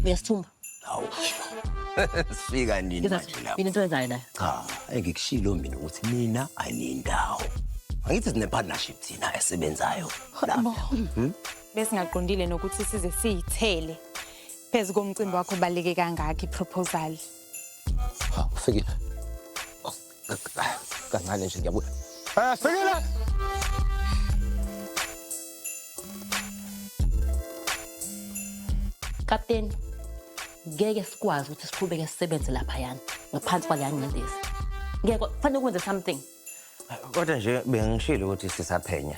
uyasithumba Hawu. Sifika nini manje lapho? yini into ezayo nayo Cha, engikushilo mina ukuthi mina aniyindawo. Angithi sine partnership thina esebenzayo. besingaqondile nokuthi size siyithele phezu komcimbi wakho baleke kangaka iproposal Hawu, ufikile. Kancane nje ngiyabuya. Eh, sekela. Kapteni, ngeke sikwazi ukuthi siqhubeke sisebenze lapha yana ngaphansi kwaleya ngcindezi. Ngeke kufanele ukwenze something. Kodwa nje bengishilo ukuthi sisaphenya.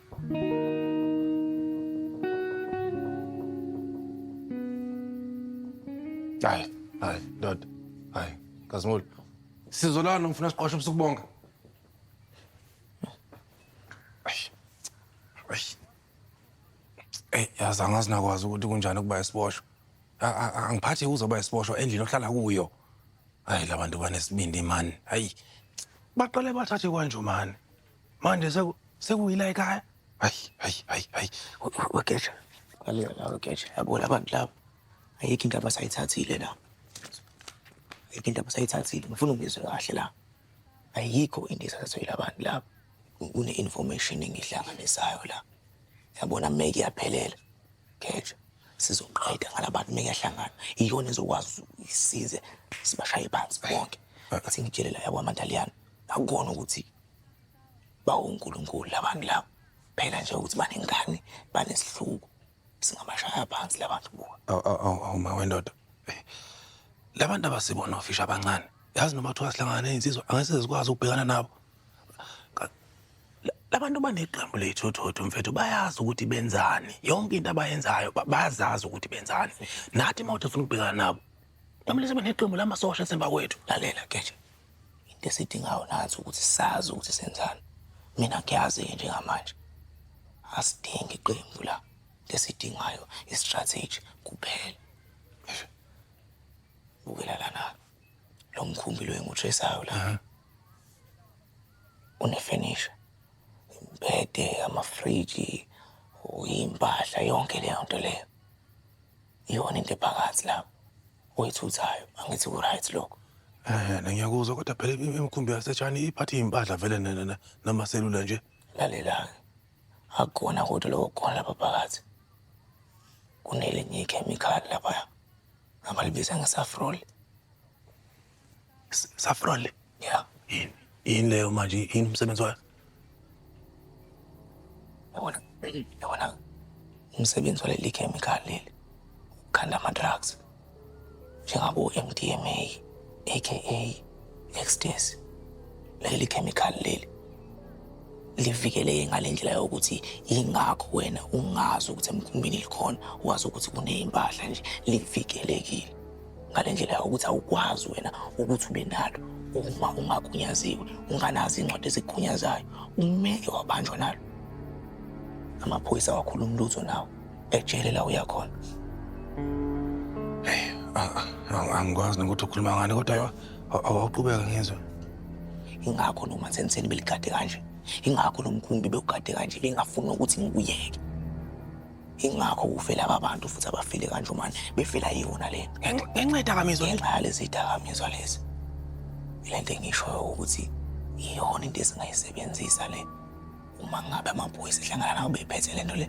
Hayi, hayi, ndoda. Hayi, Kazimulo. Sizo lana ngifuna siqoshe ubusuku bonke. Ay. Ay. Ey, yazi angazi nakwazi ukuthi kunjani ukuba isiboshwa. A- a- a- Angiphathi uzoba isiboshwa endlini ohlala kuyo. Hayi labantu banesibindi man. Hayi. Baqale bathathe kwanjumani. manje seku sekuyila ekhaya hayi hayi hayi hayi wegeja kaliya la wegeja yabo labantu laba ayikho into abasayithathile la ayikho into abasayithathile ngifuna ungizwe kahle la ayikho into esathathile abantu laba kune-information engihlanganisayo la yabona mme kuyaphelela geja sizoqeda ngalabantu mme kuyahlangana iyona ezokwazi isize sibashaye phansi bonke athi ngitshelela yakwamantaliyana akubona ukuthi bawunkulunkulu labantu labo phela nje ukuthi banengane banesihluku singabashaya phansi labantu buka awu ma wendoda labantu abasibona ofisha abancane yazi noma kuthiwa sihlangana nezinsizwa angase zikwazi ukubhekana nabo labantu baneqembu lethu thotho mfethu bayazi ukuthi benzani yonke into abayenzayo bayazazi ukuthi benzani nathi uma uthi ufuna ukubhekana nabo kumele sibe neqembu lamasosha esemva kwethu lalela keje into esidingayo nansi ukuthi sazi ukuthi senzani mina ngiyazi-ke njengamanje asidingi iqembu la into esidingayo i-strategy kuphela bukela lana lo mkhumbi lo engutraceayo la unefenisha imbede amafriji uyimpahla yonke leyo nto leyo iyona into ephakathi lapho oyithuthayo angithi ku-right lokho ehe na ngiyakuzwa kodwa phela im- imikhumbi yasetshani iphatha iy'mpahla vele na- na- na- namaselula nje lalela-ke akukona kodwa lokho kukhona lapha phakathi kunelinye ikhemikhali laphaya abalibiza ngesafrol S- Saffron le. Yeah. Yini? Yini leyo manje? Yini umsebenzi wayo? Yabona, yabona umsebenzi waleli chemical leli ukhanda ama-drugs njengabo MDMA aka ecstasy leli chemical leli livikeleke ngale ndlela yokuthi yingakho wena ungazi ukuthi emkhumbini likhona wazi ukuthi kuney'mpahla nje livikelekile ngale ndlela yakho ukuthi awukwazi wena ukuthi ube nalo uma ungagunyaziwe unganazi iy'ncwadi ezikugunyazayo umeke wabanjwa nalo amaphoyisa awakhulumi lutho nawo ejele la uya khona angikwazi nokuthi ukhuluma ngani kodwa awaqhubeka ngizwe ingakho noma senseni beligade kanje ingakho lo mkhumbi bewugade kanje bengafuni ukuthi ngikuyeke ingakho kufe laba bantu futhi abafile kanje manje befela yona le ngenxa yedakamizwa ngenxa yalezi dakamizwa lezi ile nto engishoyo ukuthi iyona into esingayisebenzisa le uma ngabe amaphoyisa ehlangana nabo bephethe le nto le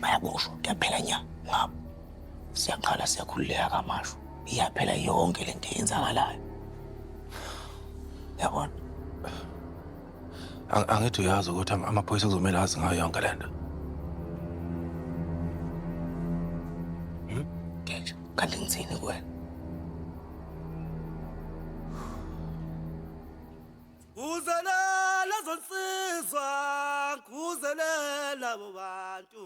bayaboshwa kuyaphela nya ngabo siyaqala siyakhululeka kamasho iyaphela yonke le nto eyenzakalayo yabona Ang- angithi uyazi ukuthi ama- amaphoyisa kuzomele azi ngayo yonke le nto Ngenja, kanti ngithini kuwena? Kuzelela zonsizwa, kuzelela bobantu.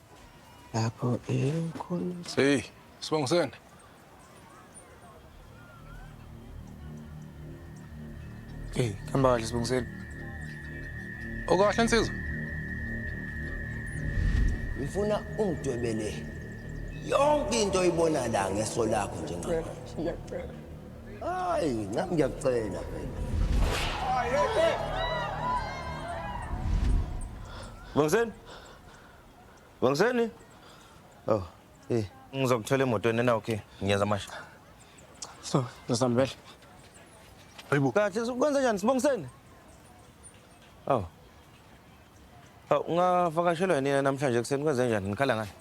lapho ekhona Hey, Sibongisene. Hey, hamba kahle sibongiseni. Okahle nsizwa. ngifuna ungidwebele yonke into oyibona la ngeso lakho njengamanje hayi nami ngiyakucela phela Bongiseni. Wangiseni? Oh, eh. Ngizokuthola emotweni na okay. Ngiyenza manje. So, ngizambele. Hayibo. Kahle ukwenza njani sibongiseni? Oh. Oh, ungavakashelwa yini namhlanje kuseni kwenze njani? Nikhala ngani?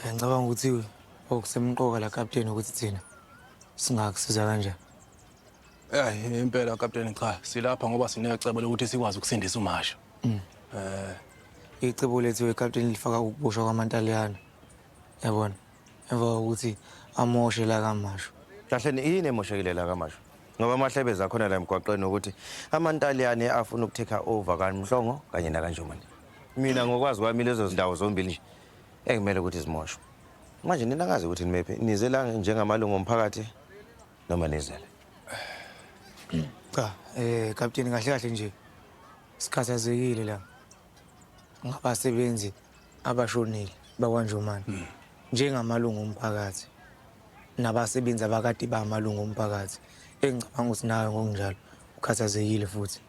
Ngicabanga ukuthi okusemqoka la captain ukuthi thina singakusiza kanjani. Eyi impela kapteni cha silapha ngoba sinecebo lokuthi sikwazi ukusindisa uMasha. Mm. Eh icebo lethu wekapteni lifaka ukuboshwa kwamantaliyana. Yabona? Emva kokuthi amoshe la kaMasho. Kahle ni yini emoshekile la kaMasho? Ngoba amahlebe zakhona la emgwaqeni ukuthi amantaliyane afuna ukutake over kaMhlongo kanye nakanjomane. Mina ngokwazi kwami lezo zindawo zombili nje ekumele ukuthi zimoshwe. Manje nina ngazi ukuthi nimephi nize la njengamalungu omphakathi noma nizele cha eh kapteni kahle kahle nje sikhathazekile la ngabasebenzi abashonile bakwanjomane hmm. njengamalungu omphakathi nabasebenzi abakade bamalungu omphakathi engicabanga ukuthi nawe ngokunjalo ukhathazekile futhi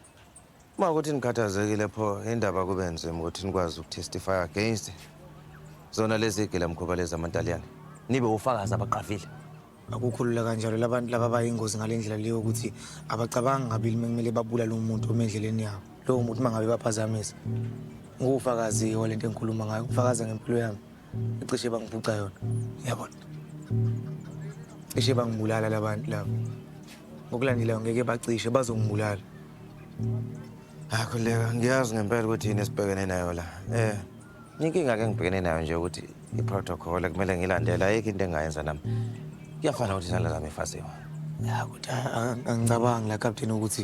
Uma ukuthi nikhathazekile pho indaba kube nzima ukuthi nikwazi ukutestify against zona lezi gila mkhuba lezi amantaliyane nibe ufakazi abaqavile akukhulula kanjalo labantu laba bayingozi ngale ndlela leyo ukuthi abacabangi ngabili kumele babulale umuntu uma endleleni yabo lowo muntu uma ngabe baphazamisa ngufakazi-ke walento engikhuluma ngayo ukufakaza ngempilo yami cishe bangiphuca yona yabona cishe bangibulala labantu labo ngokulandelayo ngeke bacishe bazongibulala hayi khuleka ngiyazi ngempela ukuthi yini esibhekene nayo la eh inkinga ke ngibhekene nayo nje ukuthi i-protocol kumele ngilandela ayikho into engayenza nami kuyafana ukuthi isandla zami efasiwe ya kuthi angicabangi la captain ukuthi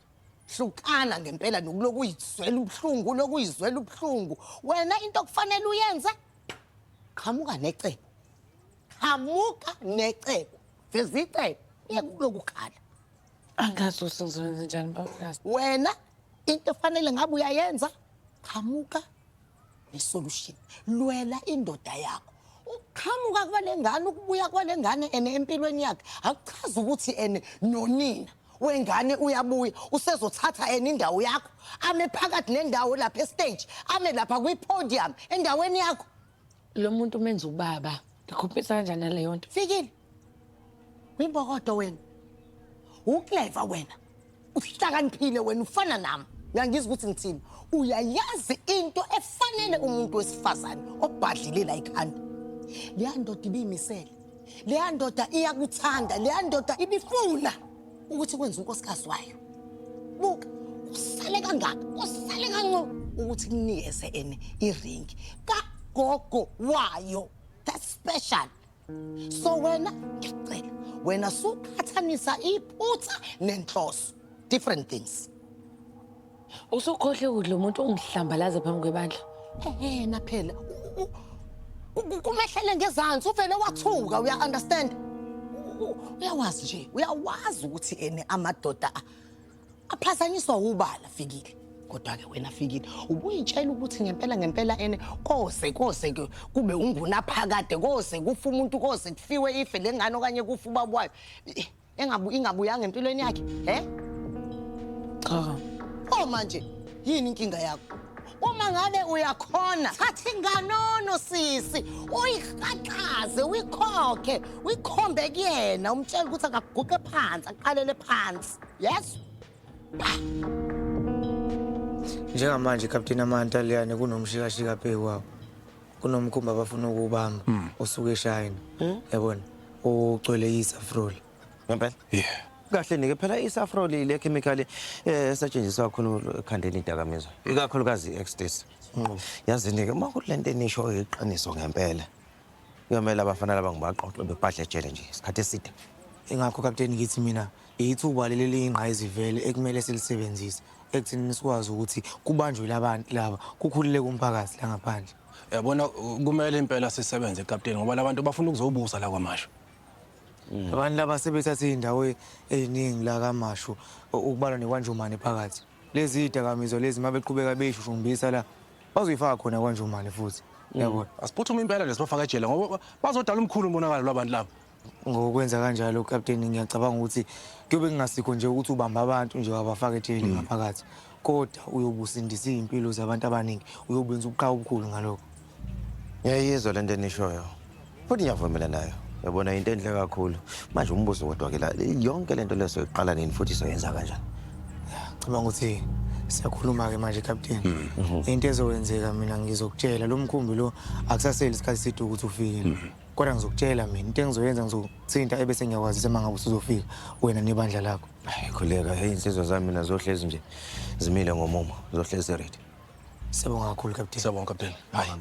hlukana ngempela nokulokhu uyizwela ubuhlungu ulokhu uyizwela ubuhlungu wena into okufanele uyenze qhamuka necebo qhamuka necebo veza icebo uye kukulokhu khala angazi ukuthi ngizokwenza njani babukazi wena into efanele ngabe uyayenza qhamuka nesolution lwela indoda yakho ukuqhamuka kwale ngane ukubuya kwale ngane ene empilweni yakhe akuchazi ukuthi ene nonina wengane uyabuya usezothatha yena indawo yakho ame phakathi nendawo lapha estage ame lapha kwi-podium endaweni yakho lo muntu umenza ubaba ndikhompisa kanjani naleyo nto fikile uyimbokodo wena ukleva wena uhlakaniphile wena ufana nami uyangizwa ukuthi ngithini uyayazi into efanele umuntu wesifazane obhadlile la ikhanda leya ndoda ibiyimisele leya ndoda iyakuthanda leya ndoda ibifuna ukuthi kwenze unkosikazi wayo buka usale kangaka usale kanco ukuthi kunikeze ene iringi kagogo wayo that's special so wena ngiyacela wena suqhathanisa iphutha nenhloso different things Usukhohle ukudla umuntu ungihlambalaze phambi kwebandla. Ehena phela. Kumehlele ngezansi uvele wathuka uya understand. Uyawazi nje, uyawazi ukuthi ene amadoda aphazanyiswa ubala fikile. kodwa ke wena fikile ubuyitshela ukuthi ngempela ngempela ene kose kose ke kube ungunaphakade kose kufa umuntu kose kufiwe ife lengane okanye kufa ubaba wayo engabu ingabuyanga empilweni yakhe he cha oh manje yini inkinga yakho uma ngabe uyakhona thatha inganono sisi uyiqaqaze uyikhokhe uyikhombe kuyena umtshela ukuthi akaguqe phansi aqalele phansi yes njengamanje ikapteni amanta leyane kunomshikashika phekwabo kunomkhumba abafuna ukuwubamba hmm. osuke eshayina hmm? yabona ugcwele isafrol ngempela yeah kahle nike phela isafrol ile chemical eh, esetshenziswa kakhulu ekhandeni idakamizwa ikakhulukazi i-ecstasy hmm. yazi nike uma kulento enisho iqiniso ngempela kuyomela abafana laba ngibaqoqe bebhadle ejele nje isikhathi eside ingakho kapteni ngithi mina Yithuba leli eliyingqayizivele ekumele silisebenzise ekuthenini sikwazi ukuthi kubanjwe labantu laba kukhululeke umphakathi la ngaphandle. Yabona kumele impela sisebenze kapteni ngoba labantu bafuna ukuzobusa la kwamasho. Mm. Abantu laba sebethathe izindawo e-, eziningi la kamasho ukubalwa nekwanjomane phakathi. Lezi zidakamizwa lezi mabeqhubeka beyishushumbisa la bazoyifaka khona kwanjomane futhi. Mm. Yabona. Asiphuthume impela lesibafaka ejele ngoba bazodala umkhulu umonakalo labantu laba. ngokwenza kanjalo ukapteni ngiyacabanga ukuthi kuyobe kungasikho nje ukuthi ubamba abantu nje wabafaka ejele mm. ngaphakathi kodwa uyobe usindisa iy'mpilo zabantu abaningi uyobe wenza ubuqhawe obukhulu ngalokho ngiyayizwa le nto enishoyo futhi ngiyavumela nayo yabona yinto enhle kakhulu manje umbuzo kodwa-ke la yonke le nto leyo soyiqala nini futhi soyenza kanjani cabanga ukuthi siyakhuluma-ke manje captain mm. mm-hmm. into ezowenzeka mina ngizokutshela lo mkhumbi lo akusaseli isikhathi side ukuthi ufikile mm-hmm. kodwa ngizokutshela mina into engizoyenza ngizokuthinta ebese ngiyakwazisa uma ngabe usuzofika wena nebandla lakho hayi khuleka heyi insizwa zami mina zohlezi nje zimile ngomumo zohlezi ready siyabonga kakhulu kapteni siyabonga kapteni hayi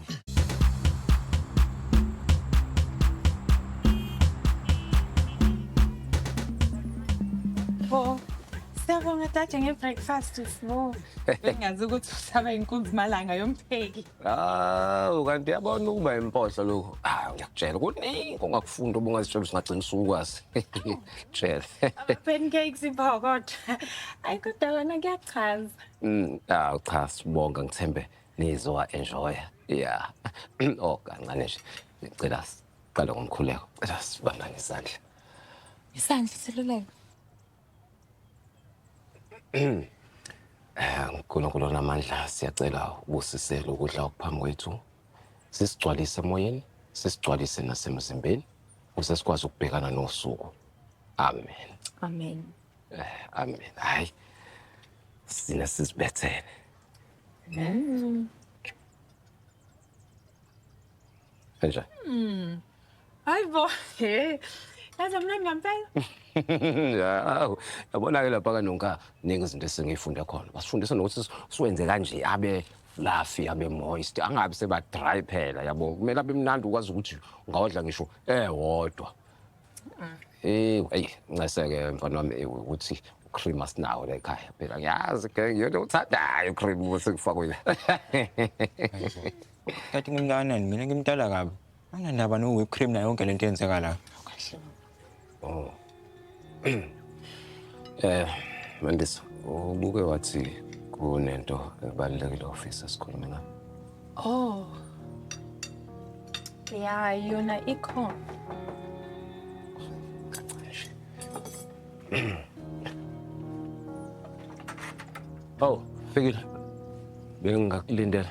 Siyabonga tatshe nge-breakfast sbo. Bengazi ukuthi usaba inkunzi malanga yompheki. hawu kanti uyabona ukuba impohlo lokho hayi ngiyakutshela kuningi ongakufunda obungazitshela ukuthi ungagcina usukwazi tshela Pancakes iphokotho. Ayi kodwa wena kuyachaza. Mm, hawu cha sibonga ngithembe nizowa enjoya ya oh kancane nje ngicela siqale ngomkhuleko cela sibambane isandla Isandla seluleko. Nkulunkulu namandla siyacela ubusisele ukudla okuphambi kwethu sisigcwalise emoyeni sisigcwalise nasemzimbeni ukuze sikwazi ukubhekana nosuku amen amen eh, amen hayi sina sizibethele mm. kanjani mm. Hayi bo. Hey. Yazi mna ngampela. Hawu, yabona ke lapha kanonka ningi izinto esengifunde khona. Basifundisa nokuthi siwenze kanje abe fluffy abe moist angabi seba dry phela yabo. Kumele abe mnandi ukwazi ukuthi ungawadla ngisho ewodwa. Ah. Eh, hey, nceseke mfana wami eh, ukuthi cream asinawo la ekhaya phela ngiyazi ke ngiyona uthandayo cream ukuthi kufakwe la. Tati ngimntana mina ngimtala kabi. Anginandaba no whip cream nayo yonke lento yenzeka la. Kahle. Oh. Eh, Mandisa, ubuke wathi kunento ebalulekile ofisa sikhulume ngayo. Oh. Ya, yona ikhona. Oh, fikile. Bengingakulindela.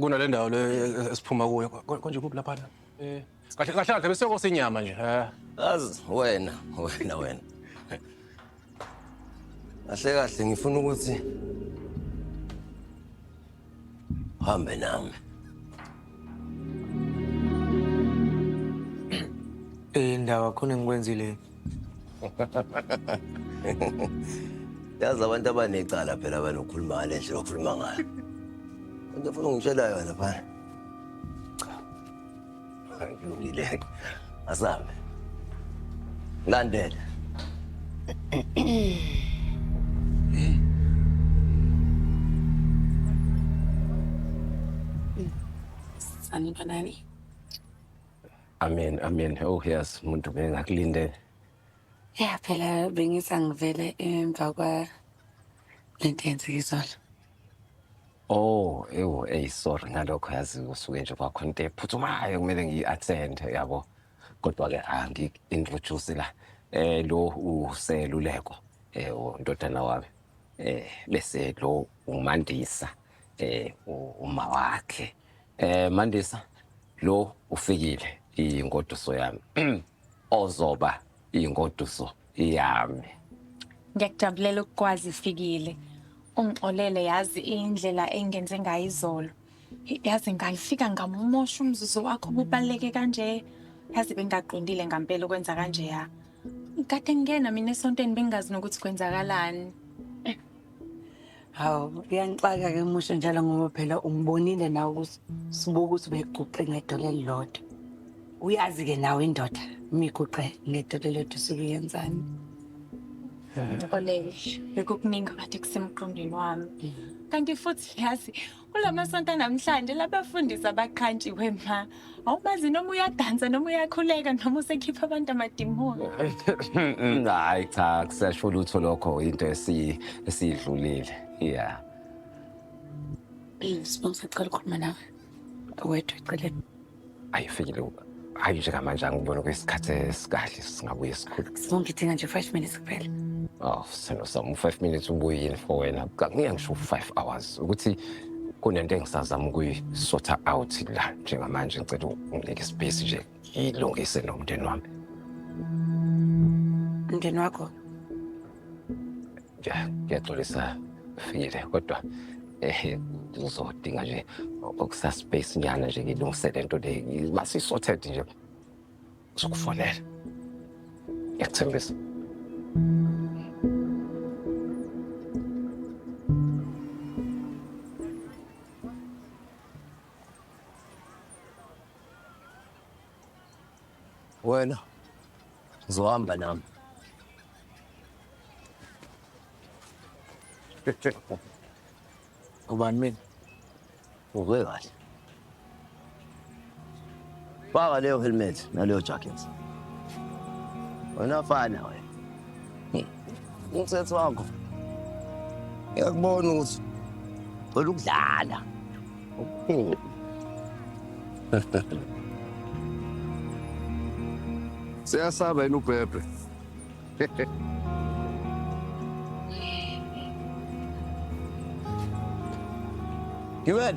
kunale ndawo le esiphuma kuyo Ko- konje kuphi laphana Eh, kahle kahle kahle besekosa inyama nje eh. Azi wena, wena wena. Kahle kahle ngifuna ukuthi uhambe nami. Eh ndawo khona ngikwenzile yazi abantu abanecala phela abanokhuluma ngale ndlela okhuluma ngayo into funa ungitshela yona phana cha kulungile asambe landela Sanibonani. Amen, amen. Oh yes, umuntu bengakulindele. Yeah, phela bengisa ngivele emva kwa lento yenzeka izolo. Oh, ewu, ey sorry ngalokho yazi usuke nje kwakho into ephuthumayo kumele ngiyi-attend yabo. Kodwa-ke angi-introduce la eh lo useluleko eh undodana wami eh bese lo umandisa eh u- uma wakhe Eh Mandisa lo ufikile ingoduso yami ozoba ingoduso yami. Ngiyakujabulela ukukwazi ifikile. Ungixolele yazi indlela engenze ngayo izolo. Yazi ngayifika ngamumosha umzuzu wakho kubaleke kanje. Yazi bengaqondile ngempela ukwenza kanje ya. Kade ngingena mina esontweni bengazi nokuthi kwenzakalani. Hawu, kuyangixaka ke musho njalo ngoba phela ungibonile nawe ukuthi sibuka ukuthi ubekuguqe ngedolo elilodwa. Uyazi ke nawe indoda imiguqe ngedolo elilodwa usuke uyenzani. Xolele, bekukuningi kade kusemqondweni wami. Kanti futhi yazi Kula masonto anamhlanje labafundisi abaqhantshiwe ma. Awubazi noma uyadansa noma uyakhuleka noma usekhipha abantu amadimoni. Hayi cha kusasho lutho lokho into esi esidlulile. Yeah. Sibonga sacela ukukhuluma nawe. Wedwa eceleni. ayifikile hayi nje kamanje angibona kwesikhathi esikahle singabuye sikhulu sizongidinga nje five minutes kuphela oh sino sam u-five minutes ubuyini for wena kangiya ngisho u-five hours ukuthi kunento engisazama ukuyisotha out la njengamanje ngicela unginike ispace nje ngiyilungise nomndeni wami umndeni wakho Ngiyaxolisa Fikile kodwa eh ngizodinga nje okusa space nyana nje ngilungise lento le mase sorted nje sokufonela ngiyathembisa Wena zohamba nami. Ubani mina? Uve kahle. Faka leyo helmet naleyo jacket. Wena fana wena. Umthetho wakho. Ngiyakubona ukuthi cela ukudlala. Okay. Siyasaba yini ubhebhe? Gibel.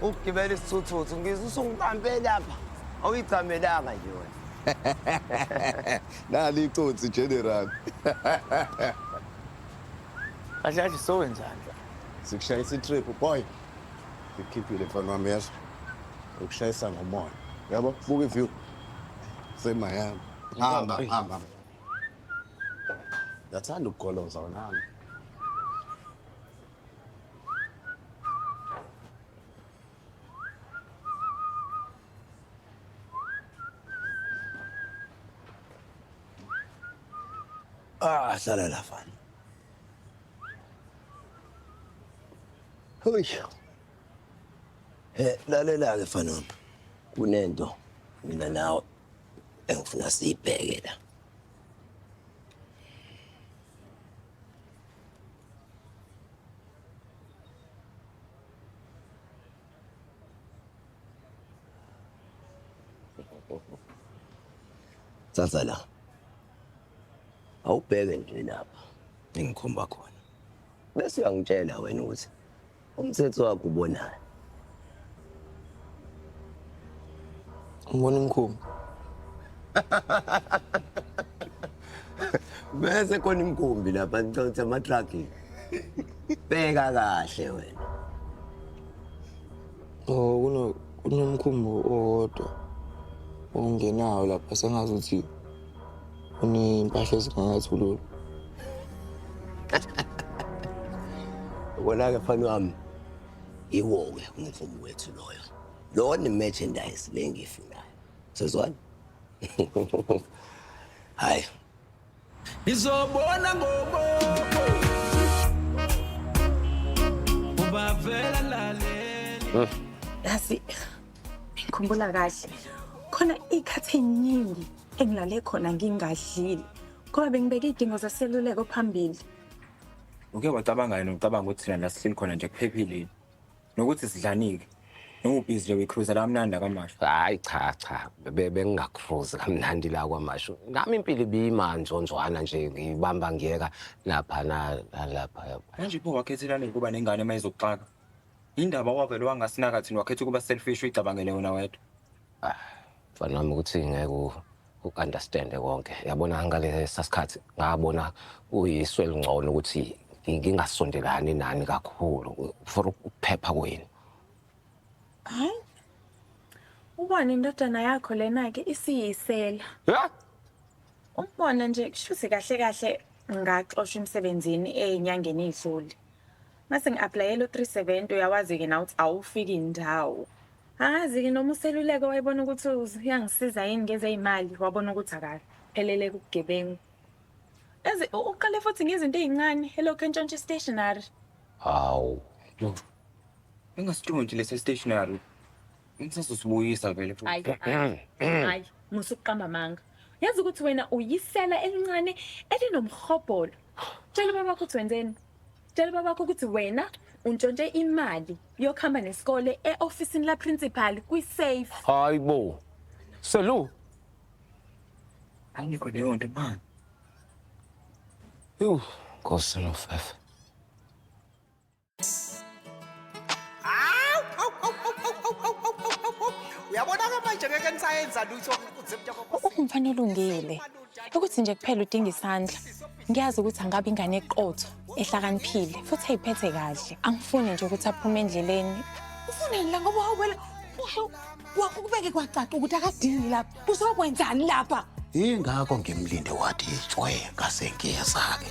ukugibela isithuthuthu ngizwe usungibambe lapha awuyigcamelanga nje wena nali icotsi general kahle kahle sowenzani sikushayisa itrip boy ngikhiphile mfana wami yasho ukushayisa ngomoya yabo buka iview semayami hamba hamba yathanda ukugoloza wonami Ah, hlala la fana. Hoy. He, lalela ke fana. Kunento mina nawe engifuna siyibheke la. Sasa la awubheke nje lapha engikhomba khona bese uyangitshela wena ukuthi Umthetho wakho ubonani? Ngibona umkhumbi. Bese khona imkhumbi lapha ngicela ukuthi ama-truck. Bheka kahle wena. Oh kuno kunomkhumbi owodwa ongenawo lapha sengazi ukuthi Unempahla ezingangathulula. Ubona-ke mfana wami iwo-ke umvumo wethu loyo. Lowo ne-merchandise le engiyifunayo. Sezwana? Hhayi. Ngizobona ngobobo. Ubavela lalela. Yazi Ngikhumbula kahle khona ikhathi eningi engilale khona ngingadlile ngoba bengibeke idingo zaseluleko phambili. Uke wacabanga yini ucabanga ukuthi thina la sihleli khona nje kuphephile yini? Nokuthi sidlanike. Noma ubhizi nje uyikruza la mnandi akamasho. Hayi cha cha be- bengingakruzi kamnandi la kwamashu. Nami impilo ibiyima njonjwana nje ngibamba ngiyeka lapha na nalapha. Manje pho wakhethelani ukuba nengane uma izokuxaka? Indaba wavele wangasinaka thina wakhetha ukuba selfish uyicabangele wena wedwa. Ah, mfana wami ukuthi ngeke u- u-understande konke yabona ngalesa sikhathi ngabona uyiswe elingcono ukuthi ngi- ngingasondelani nani kakhulu for ukuphepha kwenu Hayi. Ubona indodana yakho lena ke isiyisela. Ya! Umbona nje kushuthi kahle kahle ngaxoshwa emsebenzini enyangeni idlule. Ngase ngi-aplayela u-370 uyawazi-ke nawe ukuthi awufiki ndawo. Angazi-ke noma useluleke wayebona ukuthi uyangisiza yini ngezey'mali wabona ukuthi akaphelele kubugebengu. Yazi u- uqale futhi ngezinto ey'ncane elokhu entshontsha i-stationary. Hawu. Engasitshontshe lesi stationary. Ngisazosibuyisa vele Ayi, futhi. ayi, ayi, musa ukuqamba amanga. Yazi ukuthi wena uyisela elincane elinomhobholo. Tshela ubaba ukuthi wenzeni. Tshela babakho ukuthi wena untshontshe imali yokuhamba nesikole e-ofisini laprincipal kwi-safe hayi bo selu angikho leyo nto mani yhu nkosi nofefe uyabona-ke manje ngeke nisayenza lutho uze mntokokuthi umfana olungile ukuthi nje kuphela udinga isandla ngiyazi ukuthi angaba ingane eqotho ehlakaniphile futhi ayiphethe kahle angifuni nje ukuthi aphume endleleni ufuneni la ngoba wawubela usho wakho kubeke kwacaca ukuthi akadingi lapha uzokwenzani lapha ingakho ngimlinde wathi itshwe ngasengiyeza-ke